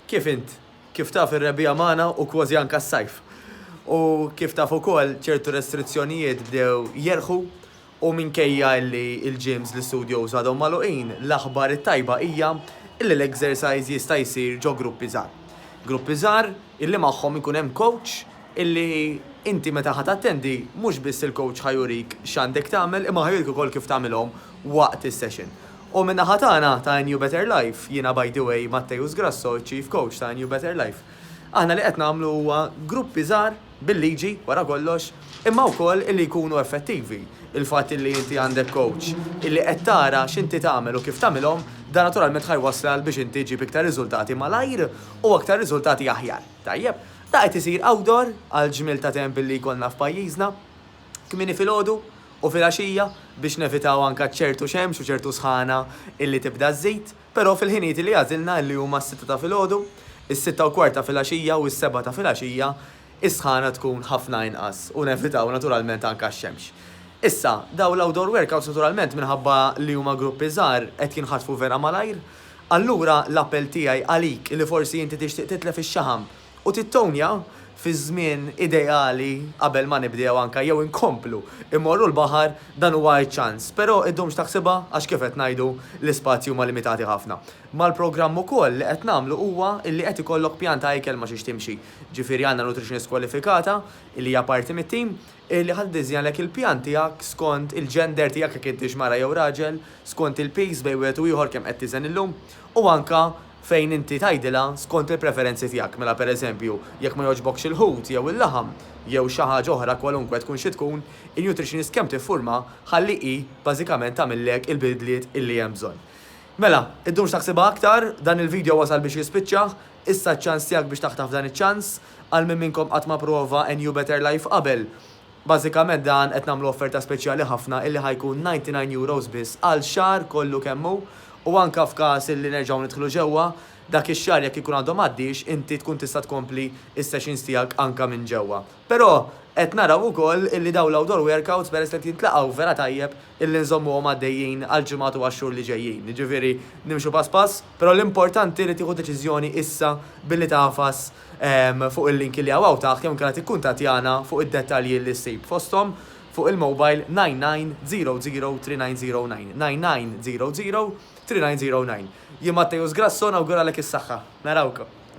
Kif int? Kif taf ir-rebbiegħa magħna u kwożi anka s-sajf. U kif taf ukoll ċertu restrizzjonijiet bdew jerħu u minkejja li l-gyms, l-istudios għadhom magħluqin, l-aħbar it-tajba hija illi l-exercise jista' jsir ġo gruppi żgħar. Gruppi żgħar illi magħhom ikun hemm coach illi inti meta ħa tattendi mhux biss il-coach ħa jurik x'għandek tagħmel imma ħa jurik ukoll kif tagħmilhom waqt is-session. U min-naħa tagħna ta' A New Better Life, jiena by the way Matteus Grasso, iċ-Chief Coach ta' A New Better Life, aħna li qed nagħmlu huwa gruppi żgħar bil-liġi wara kollox imma wkoll illi jkunu effettivi. Il-fatt illi inti għandek coach illi qed tara x'inti tagħmel u kif tagħmilhom, dan naturalment ħa jwasslal biex inti ġġib iktar riżultati malajr u aktar riżultati aħjar. Tajjeb, dan qed isir outdoor għall-ġmiel ta' temp illi jkollna f'pajjiżna. kmieni filgħodu u filgħaxija biex nevitaw anke ċertu xemx u ċertu sħana illi tibda żżid, però fil-ħinijiet illi għażilna illi huma s-sitta ta' filgħodu, is-sitta u kwart ta' filgħaxija u s-sebgħa ta' filgħaxija is-sħana tkun ħafna inqas u nevitaw naturalment anke x-xemx. Issa, dawn l-outdoor workouts naturalment minħabba li huma gruppi żgħar qed jinħatfu vera malajr, allura l-appell tiegħi għalik illi forsi inti tixtieq titlef ix-xaħam, u tittownja fiż-żmien ideali qabel ma nibdew anke jew inkomplu mmorru l-baħar dan huwa ċ-ċans. Però iddumx taħsibha għax kif qed ngħidu l-ispazji huma limitati ħafna. Mal-programm ukoll li qed nagħmlu huwa illi qed ikollok pjan ta' ikel ma' xiex timxi. Ġifieri għandna nutritionist kwalifikata illi hija parti mit-tim, li ħa tiddiżinjalek il-pjan tiegħek skont il-gender tiegħek jekk intix mara jew raġel, skont il-piż bejn wieħed u ieħor kemm qed tiżen illum, u anke fejn inti tgħidilha skont il-preferenzi tiegħek, mela pereżempju jekk ma jogħġbokx il-ħut jew il-laħam jew xi ħaġa oħra kwalunkwe tkun xi tkun, in-nutritionist kemm tiffurmha ħalli hi bażikament tagħmillek il-bidliet illi hemm bżonn. Mela, iddumx taħsibha aktar, dan il-video wasal biex jispiċċa, issa ċ-ċans tiegħek biex taħtaf dan iċ-ċans. Għal min minnkom qatt ma pprova NU Better Life qabel, bażikament dan qed nagħmlu offerta speċjali ħafna illi ħa jkun 99 euros biss għal xahar kollu kemm hu u anke f'każ illi nerġgħu nidħlu ġewwa, dak ix-xahar jekk ikun għadu m'għaddiex inti tkun tista' tkompli s-sessions tiegħek anke minn ġewwa. Però qed naraw ukoll illi dawn l-outdoor workouts peress li qed jintlaqgħu vera tajjeb illi nżommuhom għaddejjin għall-ġimgħat u għax-xhur li ġejjin. Jiġifieri nimxu pass pass, però l-importanti li tieħu deċiżjoni issa billi tagħfas fuq il-linki li hawn hawn taħt jew inkella tikkuntattjana fuq id-dettalji li ssib fosthom fuq il-mobile 99003909, 99003909. Jien Matteus Grasso nawguralek is-saħħa. Narawkom.